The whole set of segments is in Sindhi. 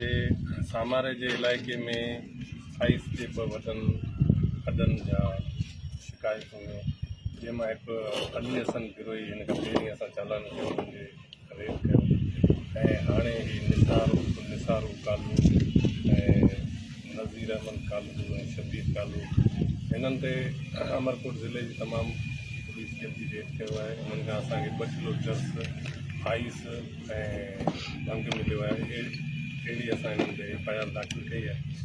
جي ساماري جي علائقي ۾ سائيز جي ٻه وڏن کڏن جا شڪايت هيون جنهن مان هڪ علي حسن بروهي هن کان پهرين اسان چالان ڪيو هن جي ريڊ ڪيو ۽ هاڻي هي نثار عرف نثار ڪالو ۽ نذير احمد ڪالو ۽ شبير ڪالو هنن تي امرڪوٽ ضلعي جي تمام پوليس جلدي ريڊ ڪيو آهي انهن کان اسانکي ٻه ڪلو چرس آئيس ۽ ڀنگ مليو آهي اهڙي اسان انهن تي ايف آء آر داخل ڪئي آهي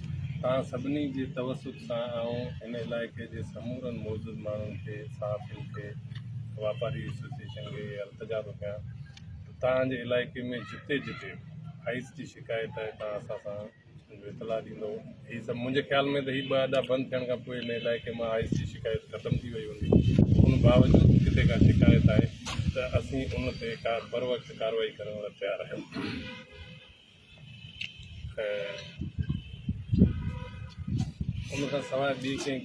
توهان سڀني جي توسط سان آئون هن علائقي جي سمورن موجود ماڻهن کي صحافين کي واپاري ايسوسيئيشن کي اهي التجا ٿو ڪيان ته توهان جي علائقي ۾ جتي جتي آئس جي شڪايت آهي توهان اسان سان اطلاع ڏيندو هي سڀ منهنجي خيال ۾ ته هي ٻه اڏا بند ٿيڻ کان پوء هن علائقي مان آئس جي شڪايت ختم ٿي وئي هوندي ان باوجود ڪٿي ڪا شڪايت آهي ته اسين ان تي ڪا بر وقت ڪارروائي ڪرڻ لاء تيار آهيون ان کان سواء ٻي ڪنهن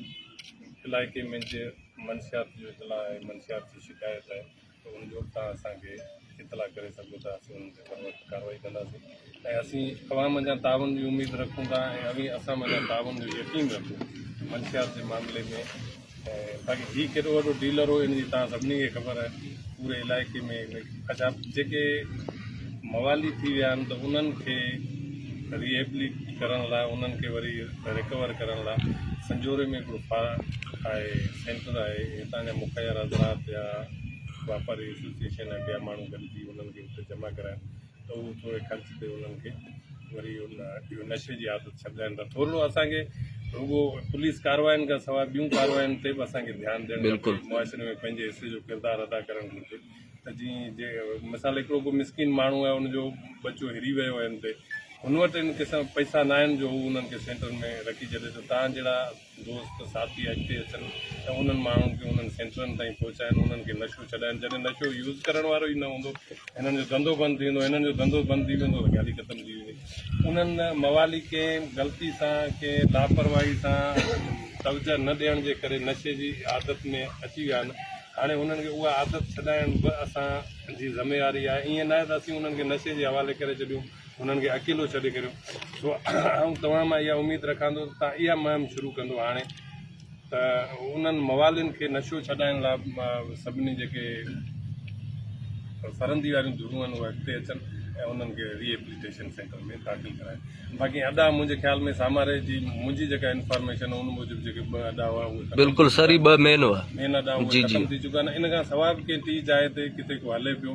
علائقي ۾ جي منشيات جو اطلاع آهي منشيات جي شڪايت آهي ته ان جو به تهان اسان کي اطلاع ڪري سگهو ته اسين ان تي بروقت ڪاروائي ڪنداسين ۽ اسين اوهان منجهان تعاون جي اميد رکون ٿا ۽ اوهين اسان منجهان تعاون جو يقين رکو منشيات جي معاملي ۾ باقي هي ڪيڏو وڏو ڊيلر هو ان جي تهان سڀني کي خبر آهي پوري علائقي ۾ اچا جيڪي موالي ٿي ويا آهن ته انهن کي ريهبليٽ ڪرڻ لاء انهن کي وري رڪور ڪرڻ لاء سنجوري ۾ هڪڙو فا آهي سينٽر آهي هتان جا مخير حضرات يا واپاري ايسوسيئيشن يا ٻيا ماڻهو گڏجي انهن کي اتي جمع ڪرائن ته اهو ٿوري خرچ تي انهن کي وري ان اهو نشي جي عادت ڇڏائين ته ٿورڙو اسانکي رڳو پوليس ڪارواين کان سواء ٻيون ڪارواين تي به اسانکي ڌيان ڏيڻ گهرجي بلڪل معاشري ۾ پنهنجي حصي جو ڪردار ادا ڪرڻ گهرجي ته جيئن جي مثال هڪڙو ڪو مسڪين ماڻهو آهي ان جو ٻچو هري ويو آهي ان تي هن وٽ ان قسم پئسا ناهن جو هو انهن کي سينٽرن ۾ رکي ڇڏي ته تان جهڙا دوست ساٿي اڳتي اچن ته انهن ماڻهن کي انهن سينٽرن تائين پهچائن انهن کي نشو ڇڏائن جڏهن نشو يوز ڪرڻ وارو ئي نه هوندو هنن جو ڌنڌو بند ٿي ويندو هنن جو ڌنڌو بند ٿي ويندو ته ڳالهه ئي ختم ٿي ويندي انهن موالي ڪنهن غلطي سان ڪنهن لاپرواهي سان توجه نه ڏيڻ جي ڪري نشي جي عادت ۾ اچي ويا آهن هاڻي انهن کي اها عادت ڇڏائڻ به اسان جي ذميواري آهي ائين نه آهي ته اسين انهن کي نشي جي حوالي ڪري ڇڏيون انهن کي اڪيلو ڇڏي ڪريو سو آئون توهان مان اها اميد رکان ٿو ته توهان اها مهم شروع ڪندو هاڻي ته انهن موالين کي نشو ڇڏائڻ لاء سڀني جيڪي فرندي واريون ڌرون آهن اهي اڳتي اچن ۽ انهن کي ري ايپليٽيشن سينٽر ۾ داخل ڪرائن باقي ادا منهنجي خيال ۾ ساماري جي منهنجي جيڪا انفارميشن ان موجب جيڪي ٻه ادا هئا اهي بلڪل سر ٻه مين هئا مين ادا ختم ٿي چڪا آهن ان کان سواء به ڪنهن ٽي جاء تي ڪٿي ڪو هلي پيو